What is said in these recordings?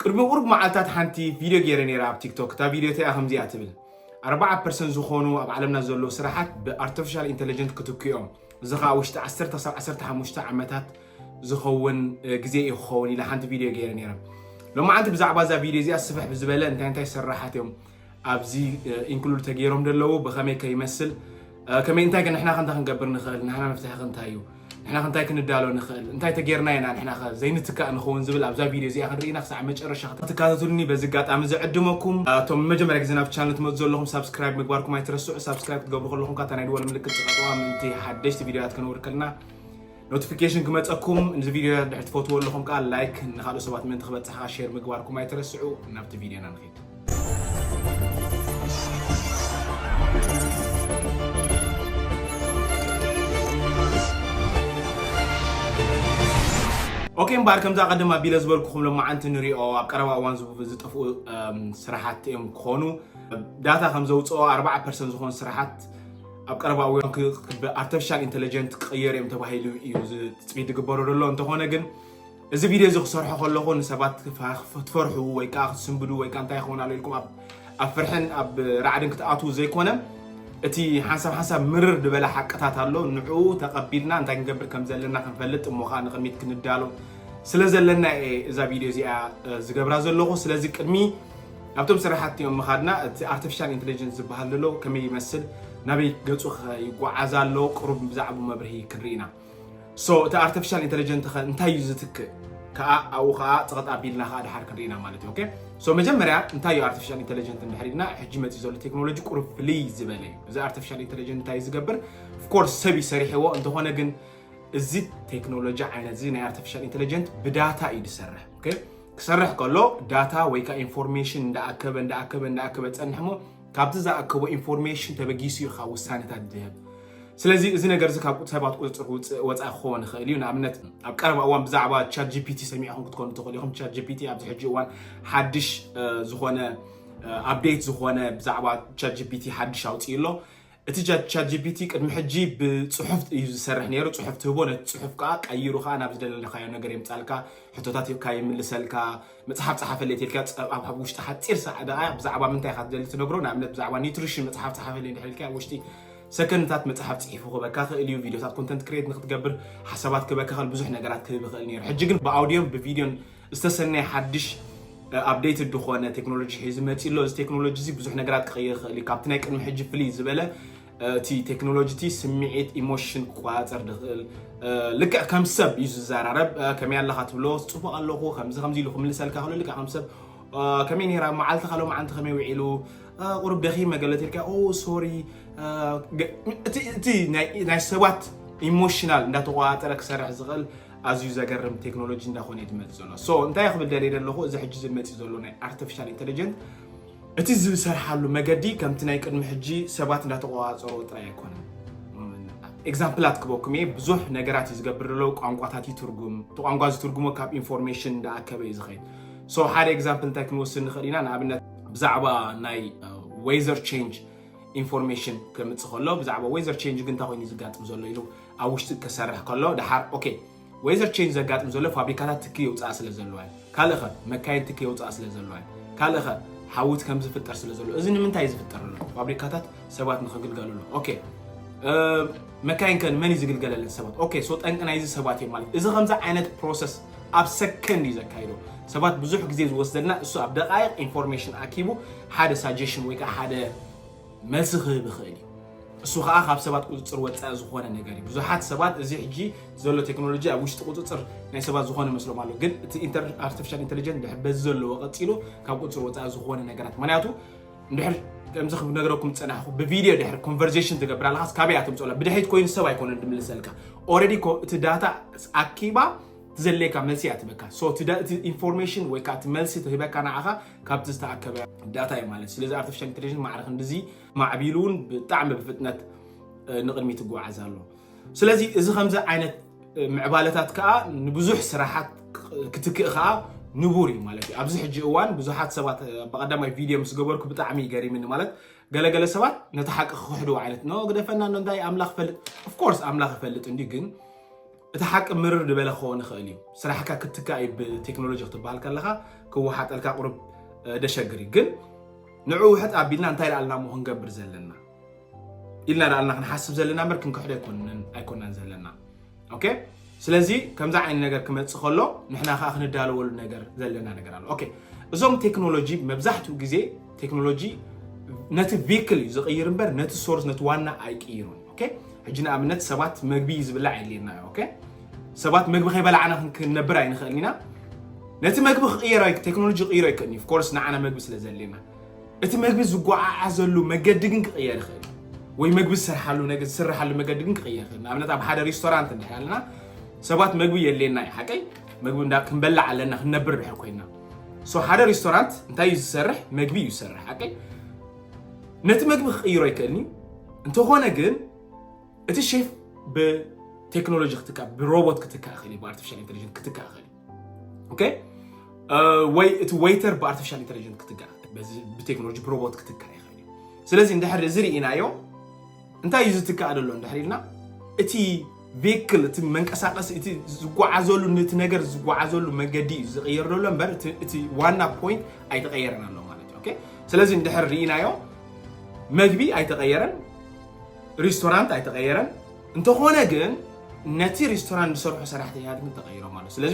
ቅድሚ ቁሩብ መዓልታት ሓንቲ ቪድዮ ገይረ ነይረ ኣብ ቲክቶክ እታ ቪድዮ እቲኣ ከምዚኣ ትብል ኣርባዓ ፐርሰንት ዝኾኑ ኣብ ዓለምና ዘለዉ ስራሓት ብኣርቲፊሻል ኢንቴሊጀንት ክትክዮም እዚ ከዓ ውሽጢ 1 ክሳብ 15 ዓመታት ዝኸውን ግዜ እዩ ክኸውን ኢላ ሓንቲ ቪድዮ ገይረ ነይረ ሎማዓንቲ ብዛዕባ እዛ ቪድዮ እዚኣ ስፍሕ ብዝበለ እንታይ እንታይ ስራሓት እዮም ኣብዚ ኢንክሉድ ተገይሮም ደለዉ ብኸመይ ከ ይመስል ከመይ እንታይ ከ ንሕና ከ እንታይ ክንገብር ንኽእል ንሕና መፍትሒ ከ እንታይ እዩ ንሕና ክንታይ ክንዳሎ ንኽእል እንታይ ተጌርና ኢና ንሕና ከ ዘይንትካእ ንኸውን ዝብል ኣብዛ ቪድዮ እዚኣ ክንርኢና ክሳዕ መጨረሻ ክትከታተሉኒ በዚ ኣጋጣሚ ዝዕድመኩም እቶም መጀመርያ ግዜ ናብቲ ቻነል ትመፁ ዘለኹም ሳብስክራይብ ምግባርኩም ኣይትረስዑ ሳብስክራይብ ክትገብሩ ከለኹም ካታ ናይ ድወል ምልክት ፅቐጥዋ ምእንቲ ሓደሽቲ ቪድዮታት ከነውር ከልና ኖቲፊኬሽን ክመፀኩም ንዚ ቪድዮ ድሕር ትፈትዎ ኣለኹም ከዓ ላይክ ንካልኦት ሰባት ምእንቲ ክበፅሕ ከዓ ሼር ምግባርኩም ኣይትረስዑ ናብቲ ቪድዮና ንኸይድ ኦኬ እምበኣር ከምዛ ቀደም ኣቢለ ዝበልኩኹም ሎማዓንቲ ንሪኦ ኣብ ቀረባ እዋን ዝጠፍኡ ስራሓት እዮም ክኾኑ ዳታ ከም ዘውፅኦ 4 ፐርሰንት ዝኾኑ ስራሓት ኣብ ቀረባ እዋን ብኣርቲፊሻል ኢንተለጀንት ክቕየር እዮም ተባሂሉ እዩ ትፅቢት ዝግበሮ ዘሎ እንተኾነ ግን እዚ ቪድዮ እዚ ክሰርሖ ከለኹ ንሰባት ክትፈርሑ ወይ ከዓ ክትስንብዱ ወይ ከዓ እንታይ ይኸውን ኣሎ ኢልኩም ኣብ ፍርሕን ኣብ ራዕድን ክትኣትዉ ዘይኮነ እቲ ሓንሳብ ሓንሳብ ምርር ዝበለ ሓቅታት ኣሎ ንዕኡ ተቐቢልና እንታይ ክንገብር ከም ዘለና ክንፈልጥ እሞ ከዓ ንቕድሚት ክንዳሎ ስለ ዘለና እየ እዛ ቪድዮ እዚኣ ዝገብራ ዘለኹ ስለዚ ቅድሚ ናብቶም ስራሕቲ ምኻድና እቲ ኣርተፊሻል ኢንተለጀንስ ዝበሃል ዘሎ ከመይ ይመስል ናበይ ገፁ ከ ይጓዓዝ ኣሎ ቅሩብ ብዛዕቡ መብርሂ ክንርኢ ኢና ሶ እቲ ኣርተፊሻል ኢንተለጀንት ከ እንታይ እዩ ዝትክእ ከዓ ኣብኡ ከዓ ፀቐጥ ኣቢልና ከዓ ድሓር ክንርኢ ኢና ማለት እዩ ኦኬ ሶ መጀመርያ እንታይ እዩ ኣርተፊሻል ኢንተለጀንት እንድሕር ኢልና ሕጂ መፅኡ ዘሎ ቴክኖሎጂ ቅሩብ ፍልይ ዝበለ እዩ እዚ ኣርተፊሻል ኢንተለጀንት እንታይ እዩ ዝገብር ኦፍኮርስ ሰብ እዩ ሰሪሕዎ እንተኾነ ግን እዚ ቴክኖሎጂ ዓይነት እዚ ናይ ኣርተፊሻል ኢንተለጀንት ብዳታ እዩ ዝሰርሕ ኦኬ ክሰርሕ ከሎ ዳታ ወይ ከዓ ኢንፎርሜሽን እንዳኣከበ እንዳኣከበ እንዳኣከበ ፀንሕ እሞ ካብቲ ዝኣከቦ ኢንፎርሜሽን ተበጊሱ እዩ ካብ ውሳኔታት ዝህብ ስለዚ እዚ ነገር እዚ ካብ ሰባት ቁፅፅር ውፅእ ወፃኢ ክኸውን ይኽእል እዩ ንኣብነት ኣብ ቀረባ እዋን ብዛዕባ ቻት ጂፒቲ ሰሚዕኹም ክትኮኑ ትኽእሉ ኢኹም ቻት ጂፒቲ ኣብዚ ሕጂ እዋን ሓድሽ ዝኾነ ኣፕዴት ዝኾነ ብዛዕባ ቻት ጂፒቲ ሓድሽ ኣውፅኡ ኣሎ እቲ ቻትጂፒቲ ቅድሚ ሕጂ ብጽሑፍ እዩ ዝሰርሕ ነይሩ። ጽሑፍ ትህቦ፣ ነቲ ጽሑፍ ከዓ ቀይሩ ከዓ ናብ ዝደለለካዮ ነገር የምጻልካ፣ ሕቶታት ይካ ይምልሰልካ፣ መጽሓፍ ጸሓፈለይ ተልካ ጸ- ኣብ ኣብ ውሽጢ ሓጺር ሰዓ ደቃይቅ ብዛዕባ ምንታይ ኢካ ትደሊ ትነግሮ፣ ንኣብነት ብዛዕባ ኒውትሪሽን መጽሓፍ ጸሓፈለይ እንድሕር ኢልካዮ ኣብ ውሽጢ ሰከንድታት መጽሓፍ ጽሒፉ ክህበካ ይኽእል እዩ። ቪድዮታት ኮንተንት ክሬት ንክትገብር ሓሳባት ክህበካ ይኽእል፣ ብዙሕ ነገራት ክህብ ይኽእል ነይሩ። ሕጂ ግን ብኣውድዮን ብቪድዮን ዝተሰነየ ሓድሽ ኣፕደይትድ ዝኾነ ቴክኖሎጂ ሒዙ መፂኡ ኣሎ። እዚ ቴክኖሎጂ እዚ ብዙሕ ነገራት ክቕይር ይኽእል እዩ። ካብቲ ናይ ቅድሚ ሕጂ ፍልይ ዝበለ እቲ ቴክኖሎጂ እቲ ስምዒት ኢሞሽን ክቆፃፀር ዝኽእል ልክዕ ከም ሰብ እዩ ዝዘራረብ። ከመይ ኣለኻ ትብሎ ፅቡቕ ኣለኹ ከምዚ ከምዚ ኢሉ ክምልሰልካ ክሎ ልክዕ ከም ሰብ ከመይ ነይራ መዓልቲ ካሎ መዓልቲ ከመይ ውዒሉ ቁሩብ ደኺመ ገለ ተልካ ኦ ሶሪ እቲ ናይ ሰባት ኢሞሽናል እንዳተቆፃፀረ ክሰርሕ ዝኽእል ኣዝዩ ዘገርም ቴክኖሎጂ እንዳኾነ እዩ ዝመፅእ ዘሎ ሶ እንታይ ክብል ደልየ ዘለኹ እዚ ሕጂ ዝመፅእ ዘሎ ናይ ኣርቲፊሻል ኢንተሊጀንት እቲ ዝሰርሓሉ መገዲ ከምቲ ናይ ቅድሚ ሕጂ ሰባት እንዳተቆፃፀሮ ጥራይ ኣይኮነን ኤግዛምፕላት ክበኩም እየ ብዙሕ ነገራት እዩ ዝገብር ዘሎ ቋንቋታት ይትርጉም እቲ ቋንቋ ዝትርጉሞ ካብ ኢንፎርሜሽን እንዳኣከበ እዩ ዝኸይድ ሶ ሓደ ኤግዛምፕል እንታይ ክንወስድ ንኽእል ኢና ንኣብነት ብዛዕባ ናይ ዌዘር ቼንጅ ኢንፎርሜሽን ከምፅእ ከሎ ብዛዕባ ዌዘር ቼንጅ ግን እንታይ ኮይኑ እዩ ዝጋጥም ዘሎ ኢሉ ኣብ ውሽጢ ከሰርሕ ከሎ ደሓር ኦኬ ወይዘር ቼንጅ ዘጋጥም ዘሎ ፋብሪካታት ትኪ የውፅኣ ስለ ዘለዋ እዩ ካልእ ኸ መካይን ትኪ የውፅኣ ስለ ዘለዋ እዩ ካልእ ኸ ሓውት ከም ዝፍጠር ስለ ዘሎ እዚ ንምንታይ እዩ ዝፍጠር ኣሎ ፋብሪካታት ሰባት ንክግልገልሉ ኦኬ መካይን ከ ንመን እዩ ዝግልገለለን ሰባት ኦኬ ሶ ጠንቂ ናይዚ ሰባት እዮም ማለት እዚ ከምዚ ዓይነት ፕሮሰስ ኣብ ሰከንድ እዩ ዘካይዶ ሰባት ብዙሕ ግዜ ዝወስደልና እሱ ኣብ ደቃይቅ ኢንፎርሜሽን ኣኪቡ ሓደ ሳጀሽን ወይ ከዓ ሓደ መልሲ ክህብ ይኽእል እዩ። እሱ ከዓ ካብ ሰባት ቁፅፅር ወፃኢ ዝኾነ ነገር እዩ። ብዙሓት ሰባት እዚ ሕጂ ዘሎ ቴክኖሎጂ ኣብ ውሽጢ ቁፅፅር ናይ ሰባት ዝኾነ መስሎም ኣሎ። ግን እቲ ኣርቲፊሻል ኢንቴሊጀንት ድሕር በዚ ዘለዎ ቀፂሉ ካብ ቁፅፅር ወፃኢ ዝኾነ ነገራት ምክንያቱ ድሕር ከምዚ ክነግረኩም ዝፀናሕኩ ብቪድዮ ድሕር ኮንቨርሴሽን ትገብር ኣለካስ ካበይ እያ ትምፅኦላ ብድሕሪት ኮይኑ ሰብ ኣይኮነ ድምልሰልካ ኦልሬዲ እቲ ዳታ ኣኪባ ትዘለየካ መልሲ እያ ትበካ እቲ ኢንፎርሜሽን ወይ ከዓ እቲ መልሲ ትህበካ ንዓኻ ካብቲ ዝተኣከበ ዳታ እዩ ማለት ስለዚ ኣርቲፊሻል ኢንቴሊጀንስ ማዕረ ክንዲዚ ማዕቢሉ እውን ብጣዕሚ ብፍጥነት ንቕድሚት ይጓዓዝ ኣሎ ስለዚ እዚ ከምዚ ዓይነት ምዕባለታት ከዓ ንብዙሕ ስራሓት ክትክእ ከዓ ንቡር እዩ ማለት እዩ ኣብዚ ሕጂ እዋን ብዙሓት ሰባት ብቀዳማይ ቪድዮ ምስ ገበርኩ ብጣዕሚ ይገሪምኒ ማለት ገለገለ ሰባት ነቲ ሓቂ ክክሕድዎ ዓይነት ኖ ግደፈና ኖ እንታይ ኣምላኽ ፈልጥ ኦፍኮርስ ኣምላኽ ይፈልጥ እንዲ ግን እቲ ሓቂ ምርር ድበለ ክኸውን ይኽእል እዩ። ስራሕካ ክትካእ እዩ ብቴክኖሎጂ ክትበሃል ከለኻ ክወሓጠልካ ቁሩብ ደሸግር እዩ። ግን ንዑ ውሕጥ ኣቢልና እንታይ ደኣ ኣልና እሞ ክንገብር ዘለና ኢልና ደኣ ኣልና ክንሓስብ ዘለና እምበር ክንክሕዶ ኣይኮናን ዘለና። ኦኬ ስለዚ ከምዚ ዓይነት ነገር ክመፅእ ከሎ ንሕና ከዓ ክንዳለወሉ ነገር ዘለና ነገር ኣሎ። ኦኬ እዞም ቴክኖሎጂ መብዛሕትኡ ግዜ ቴክኖሎጂ ነቲ ቪክል እዩ ዝቕይር እምበር ነቲ ሶርስ ነቲ ዋና ኣይቅይሩን። ኦኬ ሕጂ ንኣብነት ሰባት መግቢ እዩ ዝብላዕ የድልየና እዩ ኦኬ ሰባት መግቢ ከይበላዕና ክን- ክንነብር ኣይንኽእልን ኢና ነቲ መግቢ ክቕየር ኣይ- ቴክኖሎጂ ክቕይሮ ኣይክእልን እዩ ኮርስ ንዓና መግቢ ስለ ዘድልየና እቲ መግቢ ዝጓዓዓዘሉ መገዲ ግን ክቕየር ይኽእል እዩ። ወይ መግቢ ዝስርሓሉ ነገ ዝስርሓሉ መገዲ ግን ክቕየር ይኽእል እዩ። ንኣብነት ኣብ ሓደ ሬስቶራንት እንድሕር ኣለና ሰባት መግቢ የድልየና እዩ ሓቀይ መግቢ እንዳ ክንበላዕ ኣለና ክንነብር ድሕር ኮይና ሶ ሓደ ሬስቶራንት እንታይ እዩ ዝሰርሕ መግቢ እዩ ዝሰርሕ ሓቀይ ነቲ መግቢ ክቕይሮ ይክእልን እዩ እንተኾነ ግን እቲ ሼፍ ብቴክኖሎጂ ክትካ ብሮቦት ክትካ ይኽእል እዩ ብኣርቲፊሻል ኢንቴሊጀንት ክትካ ይኽእል እዩ ወይ እቲ ወይተር ብኣርቲፊሻል ኢንቴሊጀንት ክትካ ብቴክኖሎጂ ብሮቦት ክትካ ይኽእል እዩ ስለዚ እንድሕር እዚ ርኢናዮ እንታይ እዩ ዝትካእ ዘሎ እንድሕር ኢልና እቲ ቬክል እቲ መንቀሳቀሲ እቲ ዝጓዓዘሉ ነቲ ነገር ዝጓዓዘሉ መንገዲ እዩ ዝቕየር ዘሎ እምበር እቲ ዋና ፖይንት ኣይተቐየረን ኣሎ ማለት እዩ ስለዚ እንድሕር ርኢናዮ መግቢ ኣይተቐየረን ሬስቶራንት ኣይተቐየረን እንተኾነ ግን ነቲ ሬስቶራንት ዝሰርሑ ሰራሕተኛታት ግን ተቐይሮም ኣሎ ስለዚ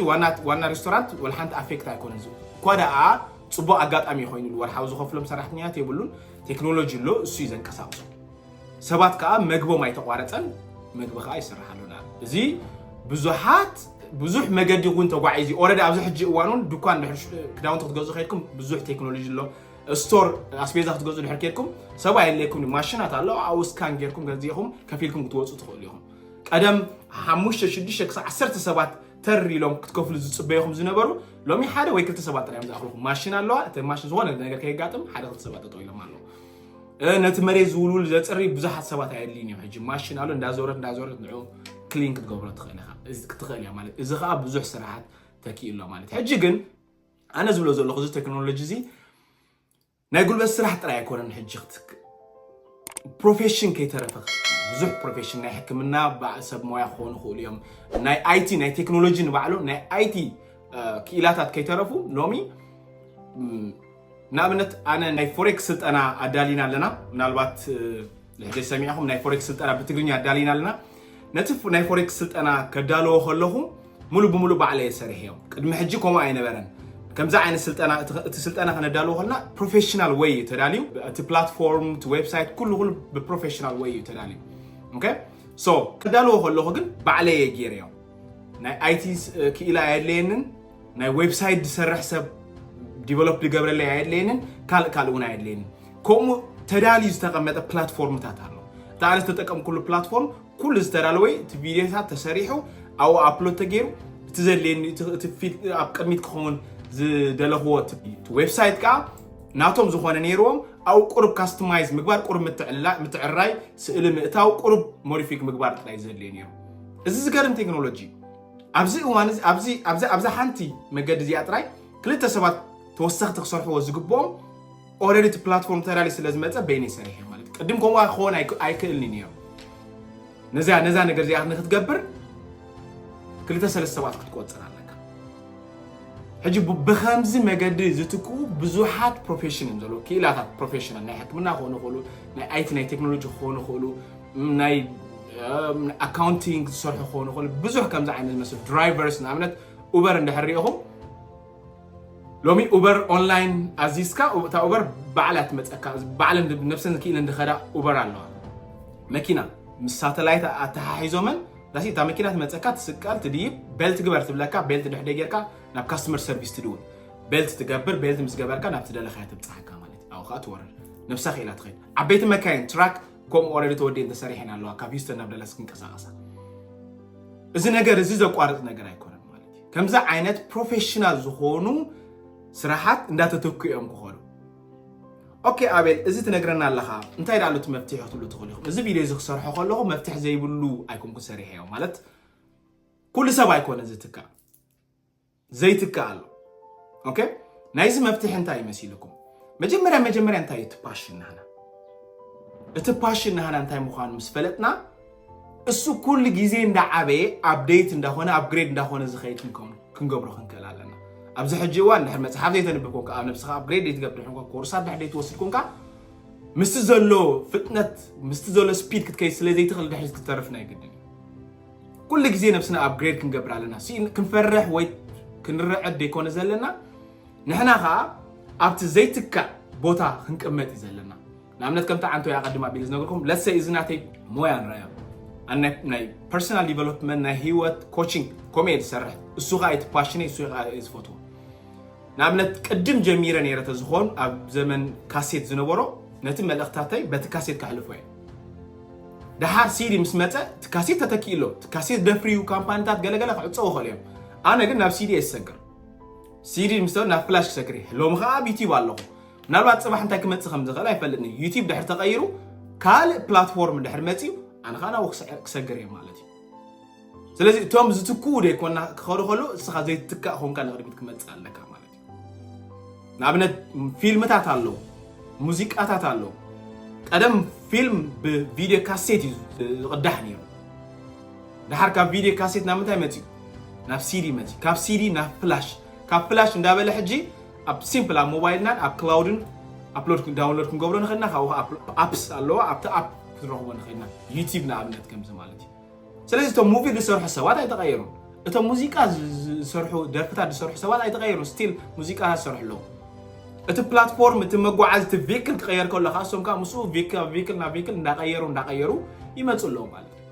ዋና ሬስቶራንት ወልሓንቲ ኣፌክት ኣይኮነ እኳ ደኣ ፅቡቅ ኣጋጣሚ ኮይኑሉ ወርሓዊ ዝኸፍሎም ሰራሕተኛታት የብሉን ቴክኖሎጂ ኣሎ፣ እሱ እዩ ዘንቀሳቕሶ። ሰባት ከዓ መግቦም ኣይተቋረፀን፣ መግቢ ከዓ ይስርሓሉን ኣሎ። እዚ ብዙሓት ብዙሕ መገዲ እውን ተጓዒዙ ኦልሬዲ ኣብዚ ሕጂ እዋን እውን ድኳን ድሕር ክዳውንቲ ክትገዝኡ ከድኩም ብዙሕ ቴክኖሎጂ ኣሎ ስቶር ኣስቤዛ ክትገዝኡ ድሕር ከድኩም ሰብ ኣየድልየኩም እዩ ማሽናት ኣሎ ኣብኡ ስካን ጌርኩም ገዚእኹም ከፊልኩም ክትወፁ ትኽእሉ ኢኹም ቀደም ሓሙሽተ ሽዱሽተ ክሳብ ዓሰርተ ሰባት ተር ኢሎም ክትከፍሉ ዝፅበዩኹም ዝነበሩ ሎሚ ሓደ ወይ ክልተ ሰባት ጥራዮም ዝኣኽልኹም ማሽን ኣለዋ እቲ ማሽን ዝኾነ ነገር ከየጋጥም ሓደ ክልተ ሰባት ጠጠው ኢሎም ኣለዉ ነቲ መሬት ዝውልውል ዘፅሪ ብዙሓት ሰባት ኣየድልይን እዮም ሕጂ ማሽን ኣሎ እንዳዞረት እንዳዞረት ንዑ ክሊን ክትገብሮ ትኽእል ኢኻ ክትኽእል እያ ማለት እዚ ከዓ ብዙሕ ስራሓት ተኪእሎ ማለት ሕጂ ግን ኣነ ዝብሎ ዘለኹ እዚ ቴክኖሎጂ እዚ ናይ ጉልበት ስራሕ ጥራይ ኣይኮነን ሕጂ ክትክ ፕሮፌሽን ከይተረፈ ብዙሕ ፕሮፌሽን ናይ ሕክምና በዓል ሰብ ሞያ ክኾኑ ይኽእሉ እዮም ናይ ኣይቲ ናይ ቴክኖሎጂ ንባዕሎም ናይ ኣይቲ ክኢላታት ከይተረፉ ሎሚ ንኣብነት ኣነ ናይ ፎሬክስ ስልጠና ኣዳሊና ኣለና ምናልባት ንሕዴ ሰሚዕኹም ናይ ፎሬክስ ስልጠና ብትግርኛ ኣዳሊና ኣለና ነቲ ናይ ፎሬክስ ስልጠና ከዳለዎ ከለኹ ሙሉእ ብሙሉእ ባዕለ እየ ሰሪሐዮ ቅድሚ ሕጂ ከምኡ ኣይነበረን ከምዚ ዓይነት ስልጠና እቲ ስልጠና ከነዳልዎ ከለና ፕሮፌሽናል ወይ እዩ ተዳልዩ እቲ ፕላትፎርም እቲ ዌብሳይት ኩሉ ኩሉ ብፕሮፌሽናል ወይ እዩ ተዳልዩ ኦኬ ሶ ከዳልዎ ከለኹ ግን ባዕለ እየ ገይረዮ ናይ ኣይቲ ክኢላ ኣየድለየንን ናይ ዌብሳይት ዝሰርሕ ሰብ ዲቨሎፕ ዝገብረለይ ኣየድለየንን ካልእ ካልእ እውን ኣየድለየንን ከምኡ ተዳልዩ ዝተቐመጠ ፕላትፎርምታት ኣሎ እቲ ኣነ ዝተጠቀምኩሉ ፕላትፎርም ኩሉ ዝተዳለወ እቲ ቪድዮታት ተሰሪሑ ኣብኡ ኣፕሎድ ተገይሩ እቲ ዘድልየኒ ኣብ ቅድሚት ክኸውን ዝደለኽዎ ዌብሳይት ከዓ ናቶም ዝኾነ ነይርዎም ኣብ ቁርብ ካስተማይዝ ምግባር ቁርብ ምትዕራይ ስእሊ ምእታው ቁርብ ሞዲፊክ ምግባር ጥራይ ዘድልየ ነይሩ እዚ ዝገርም ቴክኖሎጂ ኣብዚ እዋን እዚ ኣብዚ ኣብዚ ኣብዛ ሓንቲ መገዲ እዚኣ ጥራይ ክልተ ሰባት ተወሰኽቲ ክሰርሕዎ ዝግብኦም ኦልሬዲ እቲ ፕላትፎርም ተዳልዩ ስለ ዝመፀ በይነይ ሰሪሐ ማለት ቅድም ከምኡ ክኸውን ኣይክእልኒ ነይሩ ነዛ ነዛ ነገር እዚኣ ንክትገብር ክልተ ሰለስተ ሰባት ክትቆፅር ኣለካ ሕጂ ብከምዚ መገዲ ዝትክኡ ብዙሓት ፕሮፌሽን እዮም ዘለዉ ክኢላታት ፕሮፌሽናል ናይ ሕክምና ክኾኑ ይኽእሉ ናይ ኣይቲ ናይ ቴክኖሎጂ ክኾኑ ይኽእሉ ናይ ኣካውንቲንግ ዝሰርሑ ክኾኑ ይኽእሉ ብዙሕ ከምዚ ዓይነት ዝመስል ድራይቨርስ ንኣብነት ኡበር እንድሕር ሪኢኹም ሎሚ ኡበር ኦንላይን ኣዚዝካ እታ ኡበር ባዕላ ትመፀካ ባዕለን ነብሰን ክኢለን ዝኸዳ ኡበር ኣለዋ መኪና ምስ ሳተላይት ኣተሓሒዞመን ዳሲ እታ መኪና ትመፀካ ትስቀል ትድይብ ቤልት ግበር ትብለካ ቤልት ድሕደ ጌርካ ናብ ካስተመር ሰርቪስ ትድውል ቤልት ትገብር ቤልት ምስ ገበርካ ናብ ትደለኻያ ትብፅሓካ ማለት እዩ ኣብኡ ከዓ ትወርድ ነብሳ ክኢላ ትኸይድ ዓበይቲ መካይን ትራክ ከምኡ ኦረዲ ተወዲኤን ተሰሪሐን ኣለዋ ካብ ሂውስተን ናብ ደለስ ክንቀሳቀሳ እዚ ነገር እዚ ዘቋርፅ ነገር ኣይኮነን ማለት እዩ ከምዚ ዓይነት ፕሮፌሽናል ዝኾኑ ስራሓት እንዳተተኩ እዮም ክኾኑ ኦኬ ኣቤል እዚ ትነግረና ኣለኻ እንታይ ዳኣሉ እቲ መፍትሒ ክትብሉ ትኽእሉ ኢኹም እዚ ቪድዮ እዚ ክሰርሖ ከለኹ መፍትሒ ዘይብሉ ኣይኮንኩ ሰሪሐዮ ማለት ኩሉ ሰብ ኣይኮነ ዝትካእ ዘይትካእ ኣሎ ኦኬ ናይዚ መፍትሒ እንታይ መሲልኩም መጀመርያ መጀመርያ እንታይ እቲ ፓሽን ናህና እቲ ፓሽን ናህና እንታይ ምዃኑ ምስ ፈለጥና እሱ ኩሉ ግዜ እንዳዓበየ ኣብደይት እንዳኾነ ኣብግሬድ እንዳኾነ ዝኸይድ ክንገብሮ ክንክእል ኣለና ኣብዚ ሕጂ እዋን ድሕር መፅሓፍ ዘይተንብብ ኮንካ ኣብ ነብስኻ ኣብግሬድ ዘይትገብር ኮንካ ኮርሳት ድሕር ዘይትወስድ ኮንካ ምስቲ ዘሎ ፍጥነት ምስቲ ዘሎ ስፒድ ክትከይድ ስለ ዘይትኽእል ድሕሪ ክትተርፍ ናይ ግድን ኩሉ ግዜ ነብስና ኣብግሬድ ክንገብር ኣለና ክንፈርሕ ወይ ክንረዐድ ዘይኮነ ዘለና ንሕና ከዓ ኣብቲ ዘይትካእ ቦታ ክንቅመጥ እዩ ዘለና ንኣብነት ከምቲ ዓንቶ ያ ቀድማ ቢል ዝነገርኩም ለሰ እዚ ናተይ ሞያ ንረኣዮ ናይ ፐርሶናል ዲቨሎፕመንት ናይ ሂወት ኮችንግ ከምኡ እየ ዝሰርሕ እሱ ከዓ እቲ ፓሽነ እሱ ከዓ እየ ዝፈትዎ ንኣብነት ቅድም ጀሚረ ነይረ ተዝኾን ኣብ ዘመን ካሴት ዝነበሮ ነቲ መልእኽታተይ በቲ ካሴት ከሕልፎ እየ ደሓር ሲዲ ምስ መፀ እቲ ካሴት ተተኪኡ ኣሎ እቲ ካሴት ደፍርዩ ካምፓኒታት ገለገለ ክዕፀው ይኽእሉ እዮም ኣነ ግን ናብ ሲዲ እየ ዝሰግር ሲዲ ምስ ናብ ፍላሽ ክሰግር እየ ሎሚ ከዓ ኣብ ዩቲብ ኣለኹ ምናልባት ፅባሕ እንታይ ክመፅእ ከም ዝኽእል ኣይፈልጥን እዩ ዩቲብ ድሕር ተቐይሩ ካልእ ፕላትፎርም ድሕር መፅዩ ኣነ ከዓ ናብኡ ክሰግር እየ ማለት እዩ ስለዚ እቶም ዝትክኡ ዘይኮና ክኸዱ ከሉ እስኻ ዘይትትካእ ኮንካ ንቕድሚት ክመፅእ ኣለካ ማለት እዩ ንኣብነት ፊልምታት ኣለዉ፣ ሙዚቃታት ኣለዉ። ቀደም ፊልም ብቪድዮ ካሴት እዩ ዝቕዳሕ ነይሩ። ድሓር ካብ ቪድዮ ካሴት ናብ ምንታይ መፅኡ? ናብ ሲዲ መፅኡ። ካብ ሲዲ ናብ ፍላሽ፣ ካብ ፍላሽ እንዳበለ ሕጂ ኣብ ሲምፕል ኣብ ሞባይልናን ኣብ ክላውድን ኣፕሎድ ዳውንሎድ ክንገብሮ ንኽእልና ካብኡ ኣፕስ ኣለዋ ኣብቲ ኣፕ ክንረኽቦ ንኽእልና ዩቲብ ንኣብነት ከምዚ ማለት እዩ። ስለዚ እቶም ሙቪ ዝሰርሑ ሰባት ኣይተቐየሩን እቶም ሙዚቃ ዝሰርሑ ደርፍታት ዝሰርሑ ሰባት ኣይተቐየሩን ስቲል ሙዚቃ ዝሰርሑ ኣለዉ እቲ ፕላትፎርም እቲ መጓዓዝ እቲ ቪክል ክቐየር ከሎ ከዓ እሶም ከዓ ምስኡ ቪክል ናብ ቪክል እንዳቐየሩ እንዳቐየሩ ይመፁ ኣለዉ ማለት እዩ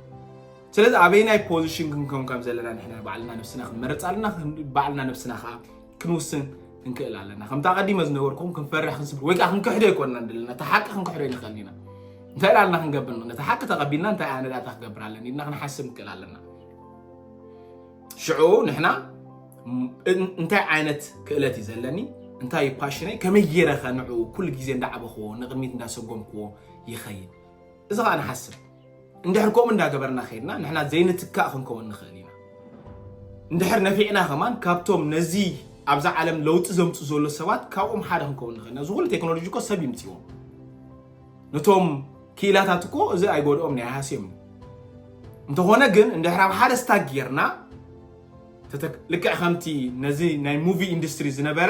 ስለዚ ኣበይናይ ፖዚሽን ክንከም ከም ዘለና ንሕና ባዕልና ነብስና ክንመርፅ ኣለና ባዕልና ነብስና ከዓ ክንውስን ክንክእል ኣለና ከምቲ ኣቐዲመ ዝነበርኩም ክንፈርሕ ክንስብ ወይ ከዓ ክንክሕዶ ይኮንና ደለና እቲ ሓቂ ክንክሕዶ ይንኽእል ኢና እንታይ ላልና ክንገብር ነቲ ሓቂ ተቐቢልና እንታይ ኣነ ዳታ ክገብር ኣለኒ ኢልና ክንሓስብ ንክእል ኣለና ሽዑ ንሕና እንታይ ዓይነት ክእለት እዩ ዘለኒ እንታይ እዩ ፓሽነይ ከመይ ገይረ ከንዑ ኩሉ ግዜ እንዳዓበኽዎ ንቕድሚት እንዳሰጎምክዎ ይኸይድ እዚ ከዓ ንሓስብ እንድሕር ከምኡ እንዳገበርና ከይድና ንሕና ዘይንትካእ ክንከውን ንኽእል ኢና። እንድሕር ነፊዕና ከማን ካብቶም ነዚ ኣብዛ ዓለም ለውጢ ዘምፅኡ ዘሎ ሰባት ካብኦም ሓደ ክንከውን ንኽእል ኢና። እዚ ኩሉ ቴክኖሎጂ እኮ ሰብ ይምፅዎም። ነቶም ክኢላታት እኮ እዚ ኣይጎድኦም ናይ ሃስዮም እዩ። እንተኾነ ግን እንድሕር ኣብ ሓደ ስታክ ጌርና ልክዕ ከምቲ ነዚ ናይ ሙቪ ኢንዱስትሪ ዝነበረ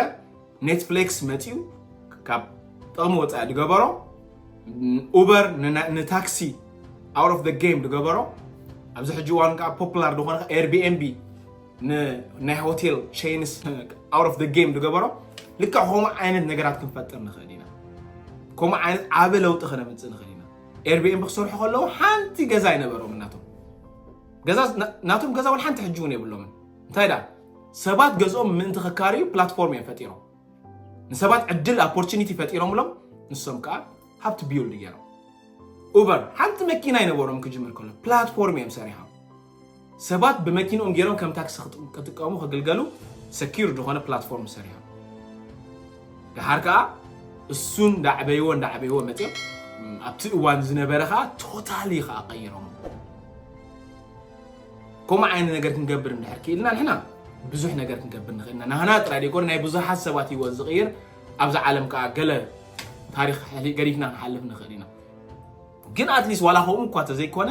ኔትፍሌክስ መፂኡ ካብ ጥቕሚ ወፃኢ ዝገበሮ ኡበር ንታክሲ ኣውት ኦፍ ጌም ዝገበሮ ኣብዚ ሕጂ እዋን ከዓ ፖፑላር ዝኾነ ኤርቢኤንቢ ንናይ ሆቴል ቼንስ ኣውት ኦፍ ጌም ዝገበሮ ልክዕ ከምኡ ዓይነት ነገራት ክንፈጥር ንኽእል ኢና ከምኡ ዓይነት ዓበ ለውጢ ክነምፅእ ንኽእል ኢና ኤርቢኤንቢ ክሰርሑ ከለዉ ሓንቲ ገዛ ኣይነበሮም ናቶም ገዛ ናቶም ገዛ እውን ሓንቲ ሕጂ እውን የብሎምን እንታይ ዳ ሰባት ገዝኦም ምእንቲ ክካረዩ ፕላትፎርም እዮም ፈጢሮም። ንሰባት ዕድል ኣፖርቹኒቲ ፈጢሮምሎም ንሶም ከዓ ሃብቲ ቢውልድ ገይሮም። ኡበር ሓንቲ መኪና ይነበሮም ክጅምር ከሎ ፕላትፎርም እዮም ሰሪሖም። ሰባት ብመኪንኦም ገይሮም ከም ታክሲ ክጥቀሙ ክግልገሉ ሰኪር ዝኾነ ፕላትፎርም ሰሪሖም። ድሓር ከዓ እሱ እንዳዕበይዎ እንዳዕበይዎ መፅኦም ኣብቲ እዋን ዝነበረ ከዓ ቶታሊ ከዓ ቀይሮም ከምኡ ዓይነት ነገር ክንገብር እንድሕር ክኢልና ንሕና ብዙሕ ነገር ክንገብር ንኽእል ኢና ናህና ጥራይ ደይኮነ ናይ ብዙሓት ሰባት ሂወት ዝቕይር ኣብዚ ዓለም ከዓ ገለ ታሪክ ገዲፍና ክንሓልፍ ንኽእል ኢና ግን ኣትሊስት ዋላ ከምኡ እኳ ተዘይኮነ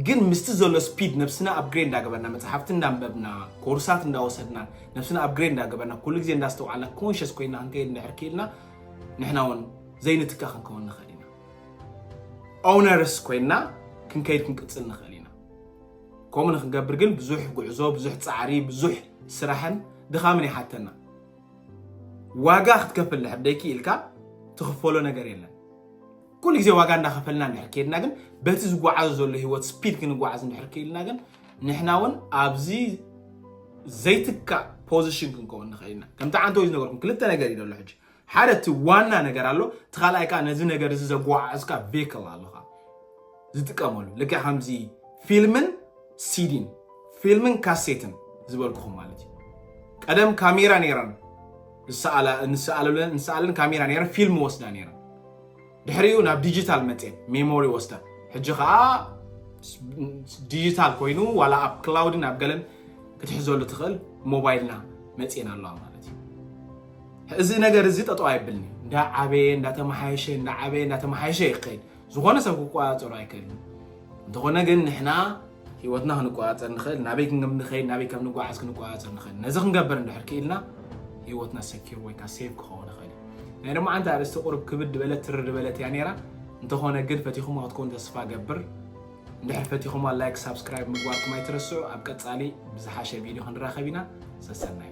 ግን ምስቲ ዘሎ ስፒድ ነብስና ኣብግሬድ እንዳገበርና መፅሓፍቲ እንዳንበብና ኮርሳት እንዳወሰድና ነብስና ኣብግሬድ እንዳገበርና ኩሉ ግዜ እንዳስተውዓልና ኮንሽስ ኮይና ክንከይድ እንድሕር ክኢልና ንሕና እውን ዘይንትካ ክንከውን ንኽእል ኢና ኦነርስ ኮይና ክንከይድ ክንቅፅል ንኽእል ኢና ከምኡ ንክንገብር ግን ብዙሕ ጉዕዞ፣ ብዙሕ ፃዕሪ፣ ብዙሕ ስራሕን ድኻምን ይሓተና። ዋጋ ክትከፍል ድሕር ደይክኢልካ ትኽፈሎ ነገር የለን። ኩሉ ግዜ ዋጋ እንዳኸፈልና እንድሕር ከይድና ግን በቲ ዝጓዓዞ ዘሎ ህይወት ስፒድ ክንጓዓዝ እንድሕር ክኢልና ግን ንሕና እውን ኣብዚ ዘይትካእ ፖዚሽን ክንከውን ንኽእል ኢና። ከምቲ ዓንተ ወይ ዝነገርኩም ክልተ ነገር እዩ ዘሎ ሕጂ ሓደ እቲ ዋና ነገር ኣሎ እቲ ካልኣይ ከዓ ነዚ ነገር እዚ ዘጓዓዕዝካ ቬክል ኣለካ ዝጥቀመሉ ልክዕ ከምዚ ፊልምን ሲዲን ፊልምን ካሴትን ዝበልኩኹም ማለት እዩ ቀደም ካሜራ ነይረን ንሰኣለለን ንሰኣለን ካሜራ ነይረን ፊልም ወስዳ ነይረን ድሕሪኡ ናብ ዲጂታል መፅኤ ሜሞሪ ወስዳ ሕጂ ከዓ ዲጂታል ኮይኑ ዋላ ኣብ ክላውድን ኣብ ገለን ክትሕዘሉ ትኽእል ሞባይልና መፅኤን ኣለዋ ማለት እዩ እዚ ነገር እዚ ጠጠው ኣይብልኒ እንዳዓበየ እንዳተመሓየሸ እንዳዓበየ እንዳተመሓየሸ ይኸይድ ዝኾነ ሰብ ክቆፃፀሮ ኣይክእልን እንተኾነ ግን ንሕና ህይወትና ክንቆፃፀር ንኽእል፣ ናበይ ክንኸይድ ናበይ ከም ንጓዓዝ ክንቆፃፀር ንኽእል። ነዚ ክንገብር እንድሕር ክኢልና ህይወትና ሰኪር ወይ ከዓ ሴቭ ክኸውን ይኽእል እዩ። ናይ ሎማዓንቲ ኣርእስቲ ቁርብ ክብድ በለት ትርር በለት እያ ነይራ። እንተኾነ ግን ፈቲኹማ ክትኮኑ ተስፋ እገብር። እንድሕር ፈቲኹማ ላይክ፣ ሳብስክራይብ ምግባርኩም ኣይትረስዑ። ኣብ ቀፃሊ ብዝሓሸ ቪድዮ ክንራኸብ ኢና። ሰሰናዩ